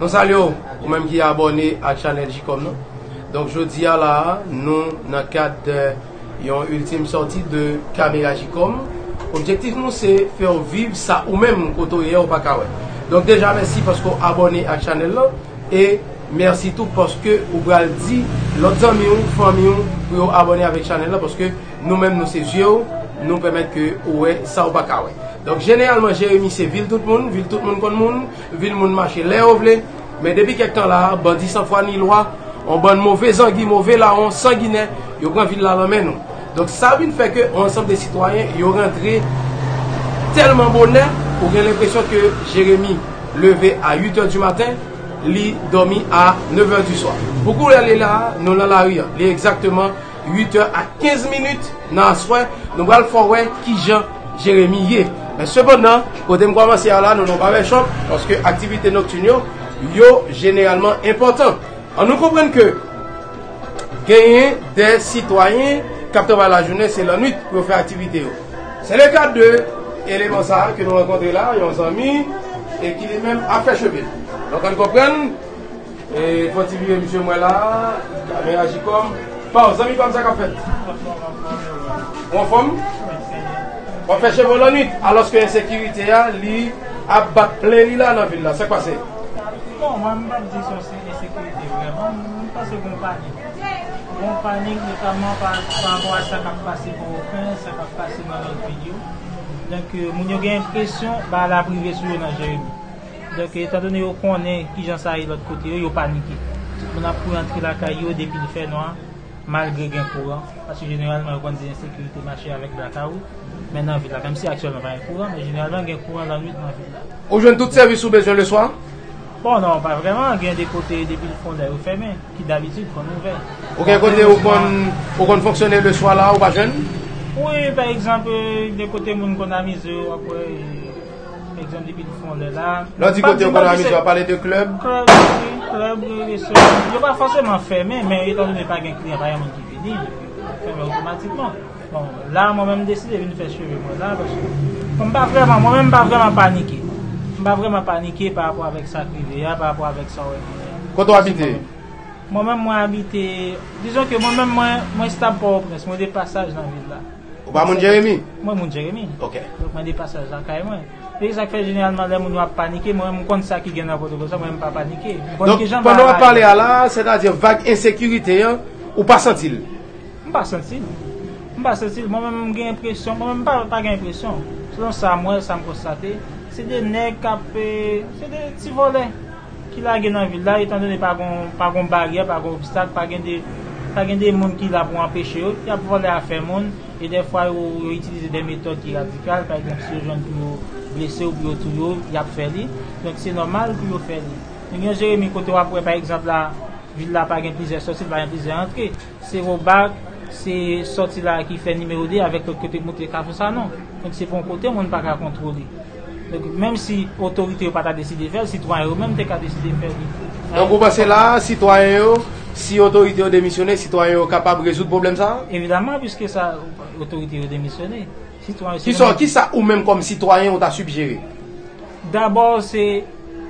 Mwen salye w, ou menm ki abòne ak chanèl Jikòm nan. Donk jodi a la a, nou nan kad de yon iltim sòti de Kamera Jikòm. Objektif nou se fè w viv sa ou menm kote w ye a ou pa ka wè. Donk deja mèsi paske w abòne ak chanèl lan e mèsi tou paske ou pral di lòt zanmi w, fanmi w pou yo abòne avèk chanèl lan paske Nou menm nou se zye w, nou pèmèt ke ou wè sa ou pa ka wè. Donk jeneralman Jeremi se vil tout moun, vil tout moun konn moun, vil moun mache lè yo vle. Men depi kèk tan la a, bandi san fwa ni lwa, yon bann move zangi, move lawon, sanginè, yo pran vil la lan men nou. Donk sa vin fè ke yon ansanm de sitwayen yo rantre tèlman bonè, ou gen lenpresyon ke Jeremi leve a 8 è di maten, li dòmi a 9 è di swa. Pou koulè li la a, nou lan lari an. Li egzakteman 8 è ak 15 minit nan aswè, nou pral fè w wè ki jan Jeremi ye. Men sepandan, kote m kòmanse a la, nou nan Barbershop, paske aktivite noktin yo, yo jeneralman enpòtan. An nou konprann ke genyen dè sitwayen k ap travay lajounen, se lannwit pou yo fè aktivite yo. Se le ka de eleman sa a ke nou rankontre la, yon zanmi, e ki li menm ap fè cheve l. Donk an n konprann. Fòtifye misye mwen la men ajikom paw zanmi pam sa kap fèt ou anfòm wap fè cheve w lannwit alòske ensekirite a li ap bat plen li la nan vil la sak pase. Bon mwen m pap di son se ensekirite vrèman m panse gon panik gon panik notamman pa rapò a sa kap pase pòwòpren sa kap pase nan lòt vil yo donk moun yo gen enpresyon bal ap rive sou yo nan jeremi. Donk, etan done yo konnen ki jan sa ye lòt kote yo, yo panike. Tout moun ap kouri antre lakay yo depi l fè nwa, malgre gen kouran. Paske jeneralman yo konn di ensekirite mache avèk blakawout. Men nan vil la, menm si aktyèlman pa gen kouran, men jeneralman gen kouran lannwit nan vil la. Ou jwenn tout sèvis ou bezwen leswa? Bon, non, pa vrèman. Gen de kote depi l fon lè yo fèmen, ki dabitid konn ouvè. Ou gen kote ou konn ou konn fonksyone leswa la ou pa jwenn? Wi, pa egzanp, gen kote moun konn amize yo, w ap wè. Egzanp depi l fon lè la. Lè w di kote yo konn amize w pale de klèb? Klèb wi, klèb wi, restoran. Yo pa fòseman fèmen men etan done pa gen kliyan, pa gen moun ki vini, yo fèmen otomatikman. Bon, la mwen menm m deside vin fè cheve mwen la paske bon m pa vrèman, mwen menm m pa vrèman panike. M pa vrèman panike pa rapò avèk sa k rive a, pa rapò avèk sa w wè genyen an. Kote w abite? Mwen menm mwen abite, dizon ke mwen menm mwen estab Pòtoprens, mwen de pasaj nan vil la. Ou pa moun Jeremi? Mwen moun Jeremi. Ok. Donk mande pasaj lakay mwen. E sa k fè jeneralman lè moun yo ap panike, mwen menm m konn sa ki gen nan pwotoprens la, mwen menm m pa panike. M konn ki jan bagay. Donk pandan w ap pale a la, sètadi vag ensekirite an, ou pa santi l? M pa santi l. M pa santi l. Mwen menm m gen enpresyon, mwen menm m pa gen enpresyon. Selon sa m wè, sa m konstate, se de nèg k ap, se de ti vòlè. ki lage nan vil la etan done pa gon pa gon baryè pa gon obstak pa gen de pa gen de moun ki la pou anpeche yo y ap vòlè afè moun e dèfwa yo yo itilize de metòd ki radikal pa egzanp si yo jwenn pou yo blese w pou yo touye w y ap fè li donk se nòmal pou yo fè li nou gen yon Jeremi kote w ap wè pa egzanp la vil la pa gen plizyè sòti l pa gen plizyè antre se Robak se sòti la ki fè nimewo 2 avèk lòt kote k monte Kafou Sanon donk se pa yon kote moun pa ka kontwole. Donk, menm si otorite yo pa ta deside fè l, sitwayen yo menm te ka deside fè li. Donk, ou panse la a, sitwayen yo, si otorite yo demisyone, sitwayen yo kapab rezoud pwoblèm sa a? Evidaman, piske sa otorite yo demisyone, sitwayen yo se menm. Ki sa ou menm kòm sitwayen ou ta sigjere? Dabò, se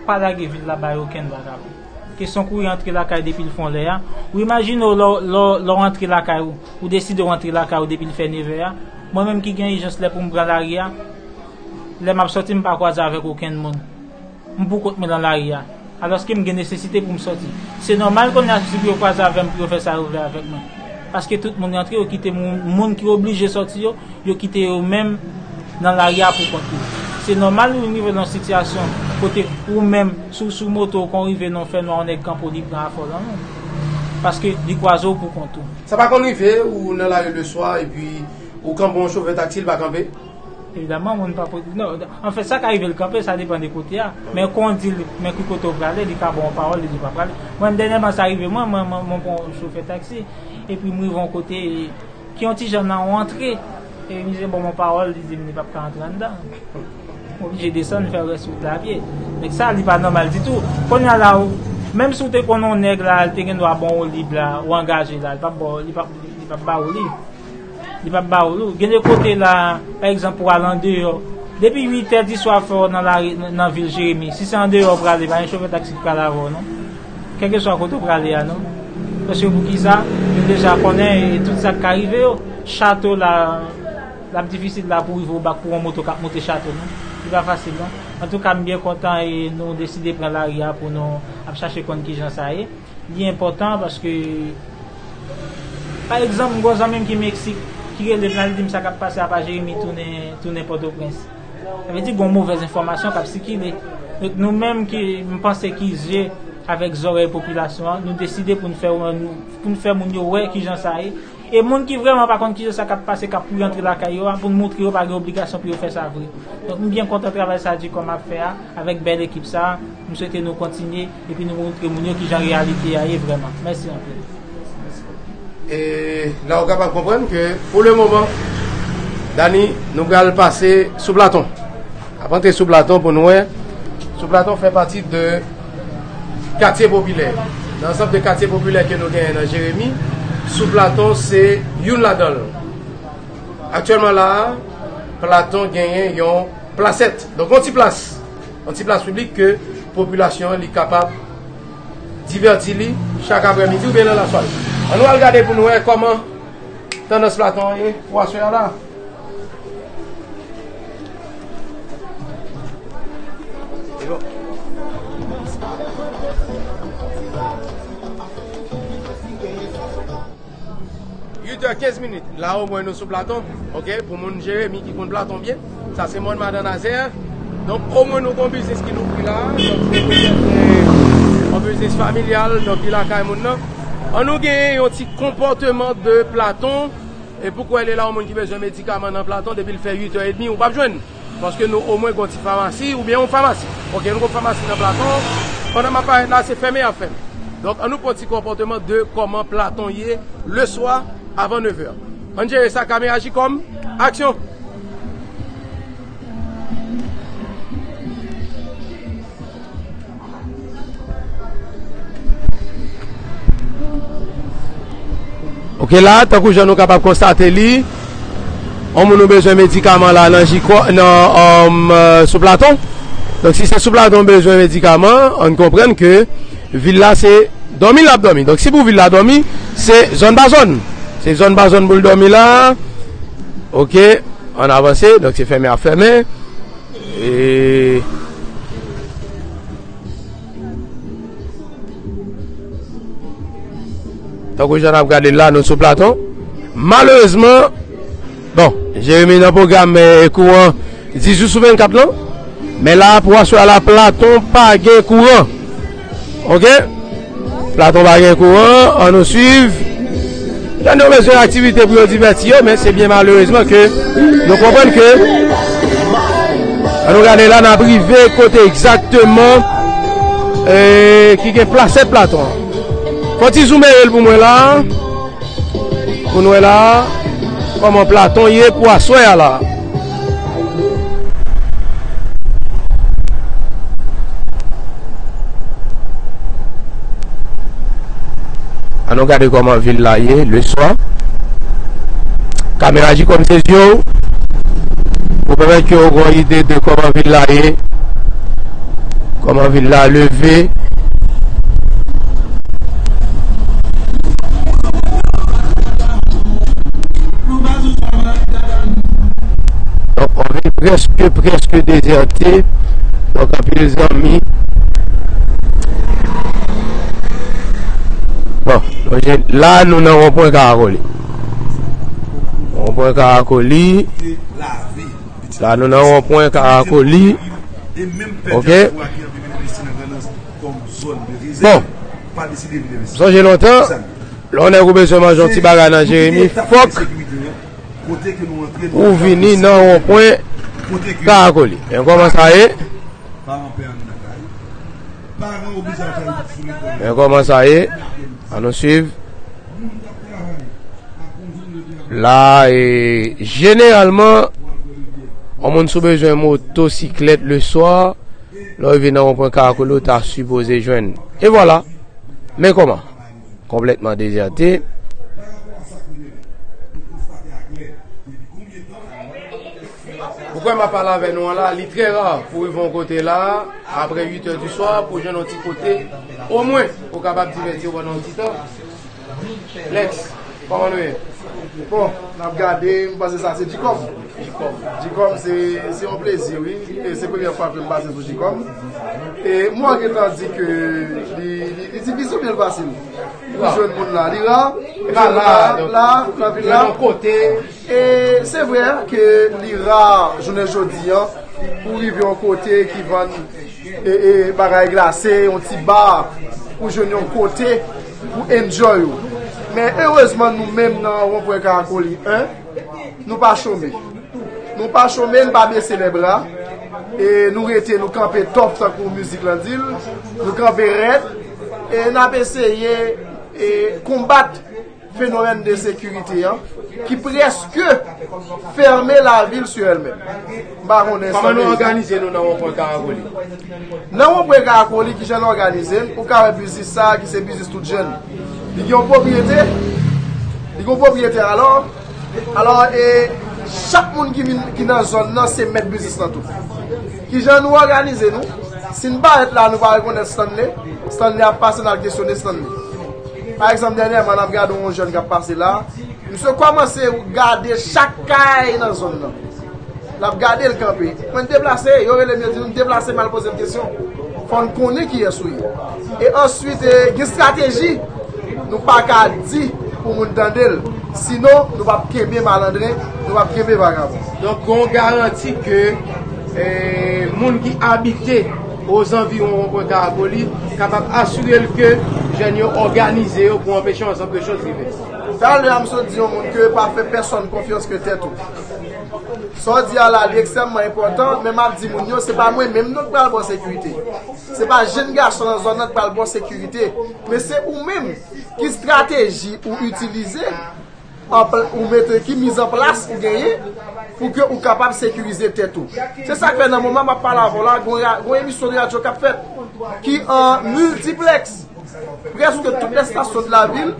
pa lage vil la bay okenn vakabon. Kesyon kouri antre lakay depi l fon lè a, ou imajine w lè w antre lakay ou, ou deside w antre lakay ou depi l fè nevè a, mwen menm ki gen ijans lè pou m pran lari a, Lè m ap sòti m pa kwaze avèk okenn moun. M pou kont mwen lan lari a. Alòske m gen nesesite pou m sòti. Se nòmal konnye a sousi pou yo kwaze avè m pou yo fè sa yo vle avèk mwen. Paske tout moun rantre yo kite m moun ki oblije sòti yo, yo kite yo menm lan lari a pou kont yo. Se nòmal ou vin rive lan yon sitiyasyon kote ou menm si w sou moto ou konn rive nan yon fè nwa yon nèg kanpe w li pran afè w lan men. Paske li kwaze w pou kont ou. Sa pa konn rive ou nan lari le swa epi ou kanpe yon chofè taksi li pa kanpe? Evidaman moun pa pot, non, anfen sa ka rive l kanpe, sa depan de kote a, men kon w di l, men ki kote w prale, li ka ba w yon pawòl, li di w pa prale. Mwen menm dènyèman sa rive mwen, mwen mwen pran yon chofè taksi, epi m rive yon kote ki yon ti jan nan yon antre, epi misye ba m yon pawòl, li di m li pap ka antre anndan, m oblije desann fè rès wout la apye. Donk sa li pa nòmal ditou. Konnya la w, menm si w te konnen yon nèg la, li te gen dwa ba w yon lib la, ou angaje la, li pap ba w, li pap ba w li. Li pap ba ou nou. Gen de kote la, pa egzanp pou al andeyò, depi 8 è di swa fò nan lari nan vil Jeremi. Si se andeyò ou prale, pa gen chofè taksi ki pral avè w non. Kèlke swa kote ou prale a non. Paske pou ki sa? Yo deja konnen e tout sa k ka rive yo. Chato la, l ap difisil la pou rive ou bak pou yon moto k ap monte chato non. Li pa fasil non. Antouka m byen kontan e nou deside pran lari a pou nou ap chache konn ki jan sa ye. Li enpòtan paske pa egzanp m gon zanmi m ki Meksik ki rele m la li di m sa k ap pase apa Jeremi tounen Pòtoprens. Sa vle di gon movèz enfòmasyon k ap sikile. Donk nou menm ki m panse ki zye avèk zòrèy popilasyon an nou deside pou n fè moun yo wè kijan sa ye. E moun ki vrèman pa konn kijan sa k ap pase k ap kouri antre lakay yo a pou n montre yo pa gen obligasyon pou yo fè sa vre. Donk m byen kontan travay sa Dicom ap fè a avèk bèl ekip sa. M swete nou kontinye. Epi nou montre moun yo kijan reyalite a ye vrèman. Mèsi anpil. E la ou kapab konprann ke pou le moman Dani nou pral pase sou Platon. Nap antre sou Platon pou nou wè. Sou Platon fè pati de katye popilè. Nan ansanm de katye popilè ke nou genyen nan Jeremi, sou Platon se youn ladan l. Aktyèlman la a, Platon genyen yon plasèt. Donk yon ti plas. Yon ti plas piblik ke popilasyon an li kapab divèti li chak aprè midi oubyen nan lasware. An nou al gade pou nou wè kòman tandans platon an ye pou aswè a la a. 8 è 15 minit la omwen nou sou platon ok pou moun jeremi ki konn platon byen sa se mòn madan nazè donk omwen nou gon biznis ki louvri la yon biznis familyal donk li lakay moun nan an nou gen yon ti konpòteman de platon e pou kwè li la yon moun ki bezwen medikaman nan platon depi l fè 8 è edmi ou pap jwenn. Paske nou omwen gon ti famasi oubyen yon famasi. Ok nou gon famasi nan Platon. Pandan map parèt la se fèmen yap fèmen. Donk an nou pran ti konpòteman de kòman Platon ye le swa avan nevè. Ann jere sa Kame aji kòm. Aksyon! Ok la tankou jan nou kapab konstate li On moun nou bezwen medikaman la nan jiko nan um, euh, sou platon Donk si se sou platon bezwen medikaman an konprenn ke vil la se Domi l ap domi Donk si pou vil la domi se zòn ba zòn Se zòn ba zòn pou l domi la Ok an avanse Donk se fèmen ap fèmen Tankou jan nap gade la nou sou platon Malerezman Bon Jeremie nan pwogram kou an 10 jou sou 24 lan Men la pou aswè a la platon pa gen kou an Ok Platon pa gen kouran an nou swiv Jan nou bezwen aktivite pou yo divèti yo men se byen malerezman ke nou konprann ke An nou gade la nap rive kote egzakteman eee ki gen plase Platon an Fon ti zoumen el pou mwen la Pou nou wè la Koman Platon ye pou aswè a la. An nou gade koman vil la ye le swa. Kamera ji kòm se zye ou. Ou pèmè ki ou gwen ide de koman vil la ye. Koman vil la leve. Donk on vil preske preske dezerte Donk anpil zanmi Bon la nou nan on pwen karakoli On pwen karakoli La nou nan on pwen karakoli Ok Bon Sonje lontan Lè yon nèg ou bezwen manje yon ti bagay nan Jeremi fòk ou vini nan wonpwen Karakoli. Men kòman sa ye. Men kòman sa ye. An nou swiv. La e jeneralman yon moun sou bezwen motosiklèt le swa lè ou vini nan wonpwen Karakoli ou ta sipoze jwenn. E vwala. Men kòman. Konplètman dezète. Ou kwè m ap pale avè nou an la, li trè ra pou rive yon kote la a, apre 8 è di swa, pou jwenn yon ti kote, omwen, ou kapab divèti ou pandan yon ti tan. Lèks. Koman nou ye? Bon, n ap gade, m panse sa se Djikòm. Djikòm se yon plezi wi. Se premye fwa ke m pase sou Djikòm. E mwen gen tan di ke li difisil oubyen li fasil pou jwenn moun la. Li ra, li ra la, la, nan vil la. E se vre ke li ra jounen jodi an pou rive yon kote ki vann bagay glase, yon ti bar pou jwenn yon kote. Pou enjoy ou. Men erezman nou menm nan Ronpwen Karakoli 1, nou pa chome. Nou pa chome, nou pa bese lè bra. E nou rete, nou kanpe top tankou mizik lan di l. Nou kanpe rèd. E n ap eseye konbat fenomèn de sekirite an ki preske fèmen lavil sou elmenm. M pa konnen sa vle di. Kòman nou òganize nou nan wonpwen Karakoli? Nan wonpwen Karakoli, kijan nou òganize n, ou ka wè biznis sa a ki se biznis tout jèn. Li gen yon pwopriyete, li gen yon pwopriyetè alò, alò e chak moun ki vin, ki nan zòn nan se mèt biznis lan tou. Kijan nou òganize nou? Si n parèt la a nou pa rekonèt Stanley, Stanley ap pase n al kesyone Stanley. Pa egzanp dènyèman n ap gade yon jèn k ap pase la a, misye kòmanse gade chak kay nan zòn nan. L ap gade l kanpe. Mwen deplase, yo rele m yo di nou deplase m al poze m kesyon. Fò n konnen kiyès ou ye. E answit gen estrateji nou pa ka di pou moun tande l. Sinon nou p ap kenbe malandren, nou p ap kenbe vagabon. Donk gen yon garanti ke moun ki abite ozanviwon Wonpwen Karagoli kapab asire l ke jèn yo òganize yo pou anpeche yon ansanm de chòz rive. Talè a m sot di yon moun ke pa fè pèsòn konfyans ke tèt ou. Sa w di a la li ekstrèmman enpòtan, men m ap di moun yo se pa mwen menm non ki pral ba w sekirite. Se pa jenn gason nan zòn nan ki pral ba w sekirite, men se ou menm. Ki estrateji ou itilize, ou mete, ki mizanplas ou genyen pou ke ou kapab sekirize tèt ou. Se sa k fè nan moman m ap pale avè w la, gen yon emisyon de radyo k ap fèt ki an miltiplèks. Prèske tout lè estasyon de la vil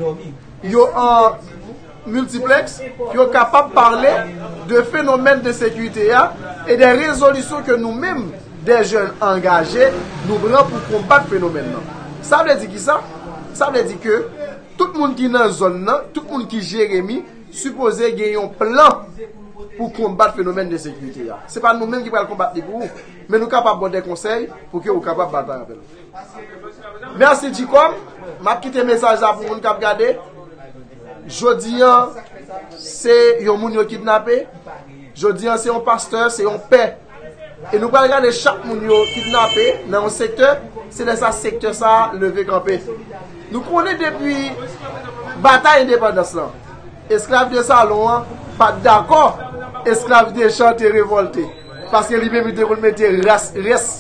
yo an. Multiplex, yo kapab pale de fenomèn ensekirite a e de rezolisyon ke nou menm, de jèn angaje, nou pran pou konbat fenomèn nan. Sa vle di kisa? Sa vle di ke tout moun ki nan zòn nan, tout moun ki Jeremi, sipoze gen yon plan pou konbat fenomèn ensekirite a. Se pa nou menm ki pral konbat li pou ou, men nou kapab ba w de konsèy pou ke ou kapab batay avè l. Mèsi Djicom, m ap kite mesaj la pou moun k ap gade. Jodi an, se yon moun yo kidnape, jodi an se yon pastè, se yon pè. E nou pral gade chak moun yo kidnape nan yon sektè, se lè sa sektè sa a leve kanpe. Nou konnen depi batay endepandans lan, esklav de salon an pa t dakò esklav de chan te revòlte, paske li menm li te konn mete rès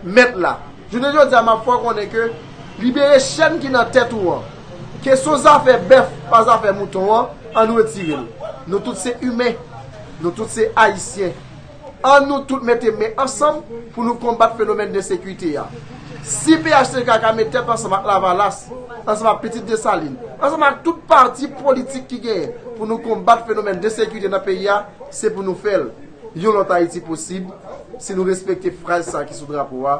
mèt la. Jounen jodi a m ap fè w konnen ke. Libere chèn ki nan tèt ou an. Kesyon zafè bèf pa zafè mouton an, an nou retire l. Nou tout se imen. Nou tout se Ayisyen. An nou tout mete men ansanm pou nou konbat fenomèn ensekite a. Si phtk ka met tèt ansanm ak Lavalas, ansanm ak Pitit Desalin, ansanm ak tout pati politik ki genyen pou nou konbat fenomèn ensekite nan peyi a, se pou nou fè l. Yon lòt Ayiti posib si nou respekte fraz sa ki sou drapo a,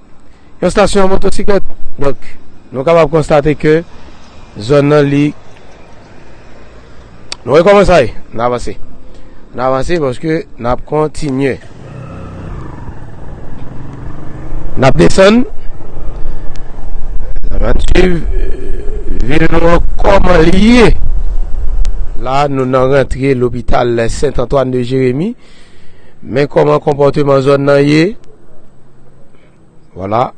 yon stasyon a motosiklèt. Donk, nou kapab konstate ke zòn nan li. Nou wè kòman sa ye? N avanse. N avanse paske n ap kontinye. N ap desann. N ap swiv vil nou an kòman li ye. La nou nan rantre lopital Sent Antwàn de Jeremi. Men kòman konpòteman zòn nan ye. Wala.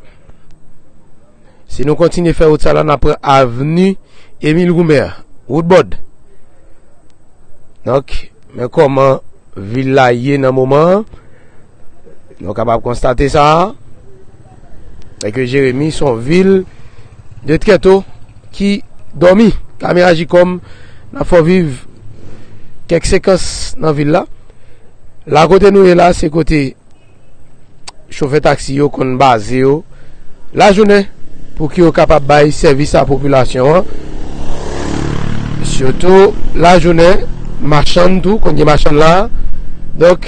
Si nou kontinye fè wout sa la, nan pran avni Emil Goumen an. Wout bòd. Donk, men kòman vil la ye nan moman. Nou kapab konstate sa a. Men ke Jeremi son vil de trèto ki dòmi. Kame Ajikom nan fò viv kèk sekans nan vil la. La kote nou ye la se kote chofè taksi yo konn baze yo la jounen pou ki yo kapab bay sèvis a popilasyon an. Sitou la jounen machann tou konn gen machann la. Donk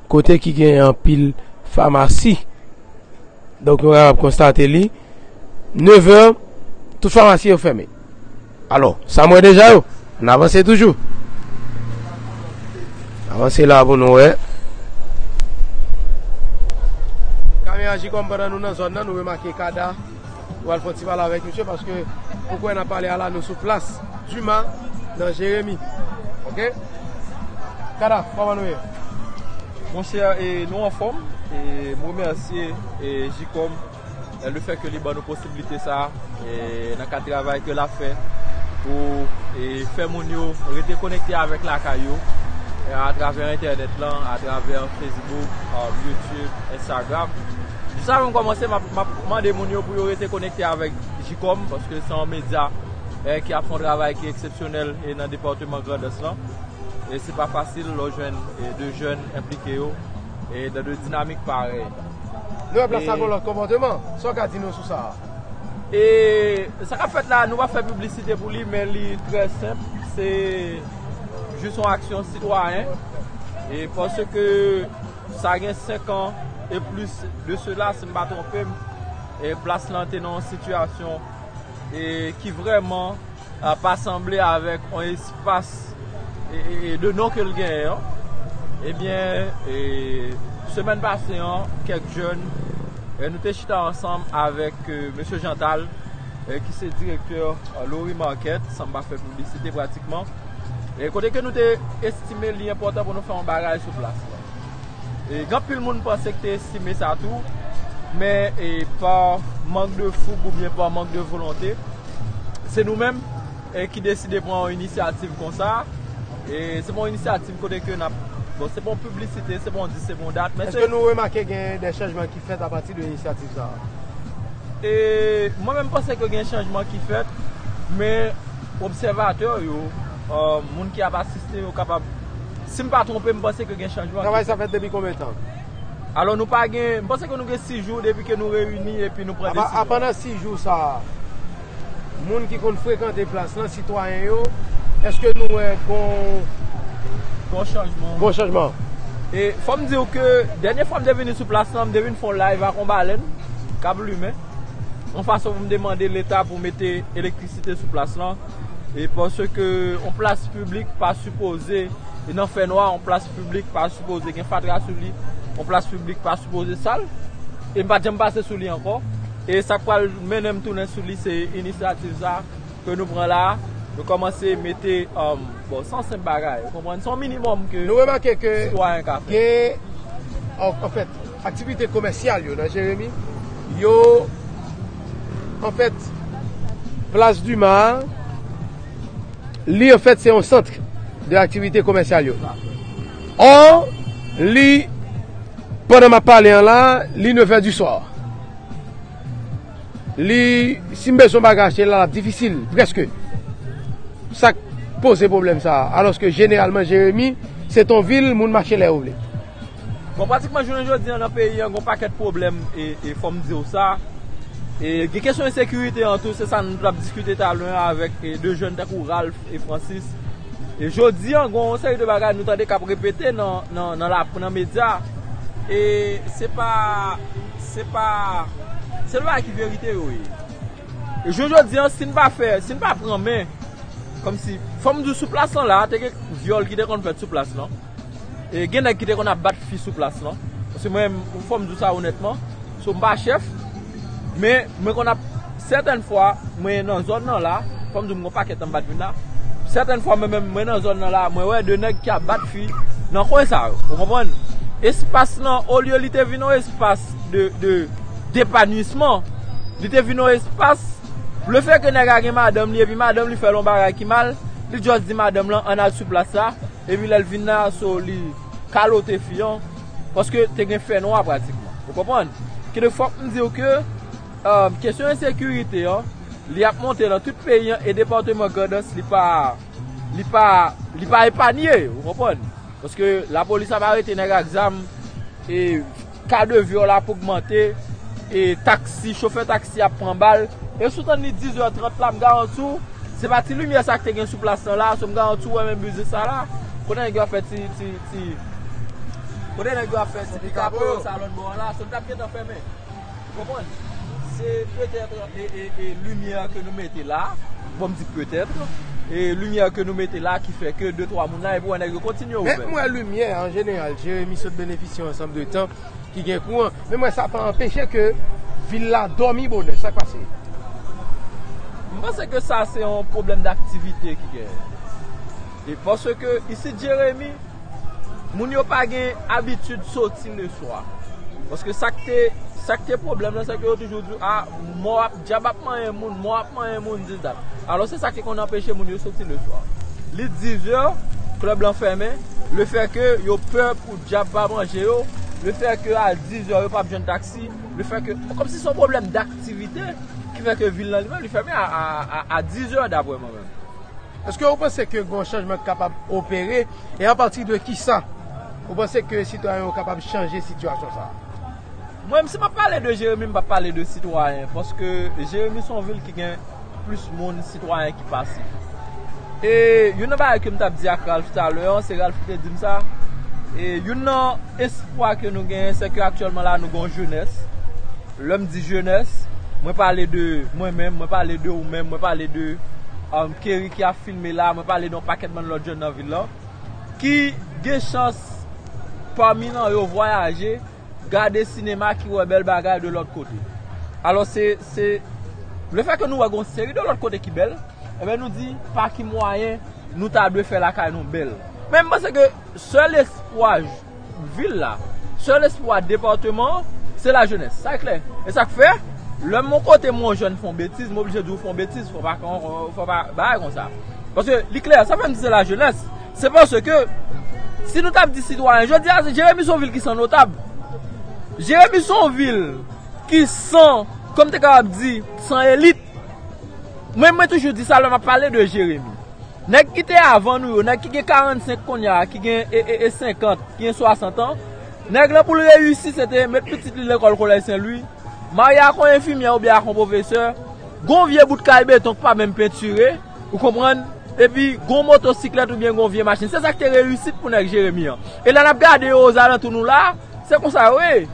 Kote ki gen anpil famasi. Donk nou kapab konstate li. Nevè, tout famasi yo fèmen. Alò, sa m wè deja yo. An n avanse toujou. Avanse la pou nou wè. Kami aji kòm pandan nou nan zòn nan nou remake kada. Nou al fè yon ti pale avèk misye paske ou kwè nan pale a la nou sou plas Duma nan Jeremi ok Kada kòman nou ye? Monsè e nou anfòm e m remèsye e Jikòm le fè ke li ban nou posibilite sa e nan kad travay ke l ap fè pou e fè moun yo rete konekte avèk lakay yo atravè entènèt lan atravè Facebook, Youtube, Instagram. Sa menm kòmanse m ap mande moun yo pou yo rete konekte avèk Jikòm paske se yon medya ki ap fè yon travay ki eksepsyonèl nan depatman Grandans lan e se pa fasil lè w jwenn de jèn enplike yo nan de dinamik parèy. Lè w ap la sa gen yon lòt konpòteman, sa w ka di nou sou sa a? E sa k ap fèt la nou pa fè piblisite pou li men li trè senp se jis yon aksyon sitwayen e paske. Sa gen 5 an e plis de sela si m pa twonpe m, plas lan te nan yon sitiyasyon ki vrèman pa sanble avèk yon espas de non ke l genyen an. Ebyen, semèn pase an, kèk jèn nou te chita ansanm avèk mesye Jantal ki se direktè Lori Market, san m pa fè piblisite pratikman, e kote ke nou te estime li enpòtan pou nou fè yon bagay sou plas la. E gen anpil moun panse ki te estime sa tou, men e pa mank de foug ou byen pa mank de volonte, se nou menm e ki deside pran yon inisyativ konsa, e se pa yon inisyativ kote ke nap, bon se pa yon piblisite, se pa yon di, se pa yon dat, men se. Eske nou remake gen de chanjman ki fèt apati de inisyativ sa a? E mwen menm panse ke gen chanjman ki fèt, men. Obsèvatè yo, moun ki ap asiste yo kapab, si m pa twonpe m panse ke gen chanjman. Travay sa fèt depi konbyen tan? Alò nou pa gen, m panse ke nou gen 6 jou depi ke nou reyini epi nou pran desizyon. A pandan 6 jou sa a, moun ki konn frekante plas lan, sitwayen yo, eske nou wè gon. Gon chanjman? Gon chanjman. E fò m di w ke dènye fwa m te vini sou plas lan, m te vin fè yon live ak yon balèn k ap limen, yon fason pou m te mande leta pou mete elektrisite. Site sou plas lan e paske yon plas piblik pa sipoze nan fènwa, yon plas piblik pa sipoze gen fatra sou li, yon plas piblik pa sipoze sal e m pa t janm pase sou li ankò e sa k pral mennen m tounen sou li se inisyativ sa ke nou pran la a nou kòmanse mete bon se yon senp bagay ou konprann, se yon minimòm ke sitwayen ka fè. Nou remake ke gen anfèt aktivite komèsyal yo nan Jeremi yo. An fèt, Plas Duma a, li an fèt se yon sant de aktivite komèsyal yo. Ò, li, pandan m ap pale an la, li nevè di swa. Li, si m bezwen yon bagay achte la, l ap difisil, prèske. Sa k poze pwoblèm sa a? Alòske jeneralman Jeremi, se ton vil moun mache lè yo vle. Bon pratikman jounen jodi an nan peyi an gon pakèt pwoblèm e fòm diw sa e gen kesyon ensekirite an tou se sa nou tap diskite talè an avèk 2 jèn tankou Ralph e Francis e jodi an gon yon seri de bagay nou tande kap repete nan la nan medya e se pa se pa se de bagay ki verite yo ye e jounen jodi an si nou pa fè si nou pa pran men kòmsi fòm diw sou plas lan la te gen vyòl ki te konn fèt sou plas lan. E gen nèg ki te konn ap bat fi sou plas lan. Paske mwen, fò m di w sa onètman, so m pa chèf, men mwen konn ap, sètèn fwa mwen nan zòn nan la, fò m di w m gen yon pakèt anba dmi la, sètèn fwa mwen menm mwen nan zòn nan la, mwen wè 2 nèg ki ap bat fi nan kwen sa yo. Ou konprann? Espas lan, olye li te vin yon espas de depanuisman, li te vin yon espas, lefètke nèg la gen madanm li epi madanm li fè l yon bagay ki mal, li jòs di madanm lan an n al sou plas la. Epi lèl vin la so li kalote fi an paske te gen fè nwa pratikman ou konprann ki donk fòk m diw ke kesyon ensekirite an li ap monte nan tout peyi an e departeman grandans li pa li pa li pa epanye ou konprann paske lapolis ap arete nèg ak zam e Ka de vyòl ap ogmante, e taksi, chofè taksi ap pran bal. E si w tann li 10 è 30 la, m garanti w, se pa ti limyè sa k te gen sou plas lan la, so m garanti w wè menm biznis sa la, kote nèg yo ap fè ti, ti, ti, kote nèg yo ap fè ti pikapo yo sa lòt bò an la, so li t ap gentan fèmen. Ou konprann? Se petèt. E limyè ke nou mete la, bon m di peut-être, e limyè ke nou mete la ki fè ke de twa moun la epi w wè nèg yo kontinye ouvè. Menm wè limyè an jeneral, Jeremi sot benefisye yon ansanm de tan ki gen kouran, menm wè sa pa anpeche ke vil la dòmi bonè. Sa k pase? M panse ke sa se yon pwoblèm d'aktivite ki genyen. E paske isit Jeremi, moun yo pa gen abitid soti leswa. Paske sa k te, sa k te pwoblèm lan, se ke yo toujou di, a, mò ap, dyab ap manyen moun, mò ap manyen moun, dis dat. Alò se sa ki konn anpeche moun yo soti leswa. Li dizè, klèb lan fèmen, lefè ke yo pè pou dyab pa manje yo, lefè ke a dizè yo pa ap jwenn taksi, lefè ke, kòm si se yon pwoblèm daktivite ki fè ke vil lan li menm li fèmen a dizè, daprè mwen menm. Eske ou panse ke gon chanjman ki kapab opere e a pati de kisa ou panse ke sitwayen yo kapab chanje sitiyasyon sa a? Mwen si map pale de Jeremi m pap pale de sitwayen paske Jeremi son vil ki gen plis moun sitwayen ki pasif. E youn nan bagay kem tap di ak Ralph talè an, se Ralph ki te dim sa, e youn nan espwa ke nou genyen se ke aktyèlman la nou gon jenès. Lè m di jenès, mwen pale de mwen menm, mwen pale de ou menm, mwen pale de Kerry ki ap filme la, mwen pale de yon pakèt bann lòt jèn nan vil lan, ki gen chans pami nan yo vwayaje, gade sinema ki wè bèl bagay de lòt kote. Alò se, se, le fè ke nou wè gen yon seri de lòt kote ki bèl, enben nou di pa ki mwayen nou ta dwe fè lakay nou bèl. Men m panse ke sèl espwa Vil la. Sèl espwa departeman an, se lajenès. Sa klè. E sa k fè, lè yon kote m yon jèn fon betiz, m oblije di w fon betiz, fò pa bagay kon sa. Paske li klè, sa fè m di se lajenès, se paske, si nou t ap di sitwayen, jodi a, Jeremi se yon vil ki san notab. Jeremi se yon vil ki san, kòm m te kapab di, san elit. Mwen toujou di sa lè m ap pale de Jeremi. Nèg ki te avan nou yo, nèg ki gen 45 konnya a, ki gen 50, ki gen 60 an, nèg lan pou l reyisi se te met pitit li lekòl Kolèj Sen Lwi, marye ak yon enfimyè oubyen ak yon pwofesè, gen yon vye bout kay beton ki pa menm pentire, ou konprann, epi gen yon motosiklèt oubyen gen yon vye machin. Se sa ki te reyisit pou nèg Jeremi an. E lè n ap gade yo ozalantou nou la a, se konsa yo ye.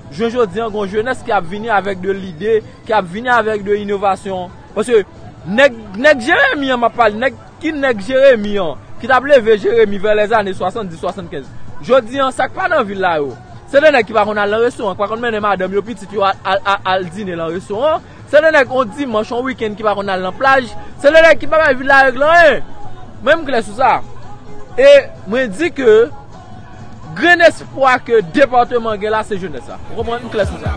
Jounen jodi an gen yon jenès ki ap vini avèk de lide, ki ap vini avèk de inovasyon. Paske nèg, nèg Jeremi an m ap pale, nèg ki nèg Jeremi an, ki t ap leve Jeremi vè lèzane 70, 75. Jodi an, sa k pa nan vil la yo, se de nèg ki pa konn al nan restoran, ki pa konn mennen madanm yo, pitit yo al dine nan restoran. Se de nèg on dimanch, on wikenn ki pa konn al nan plaj. Se de nèg ki pa bay vil la règle anyen. Mwen m klè sou sa. E mwen di ke grenn espwa ke departeman gen la se jenès la. Ou konprann? M klè sou sa.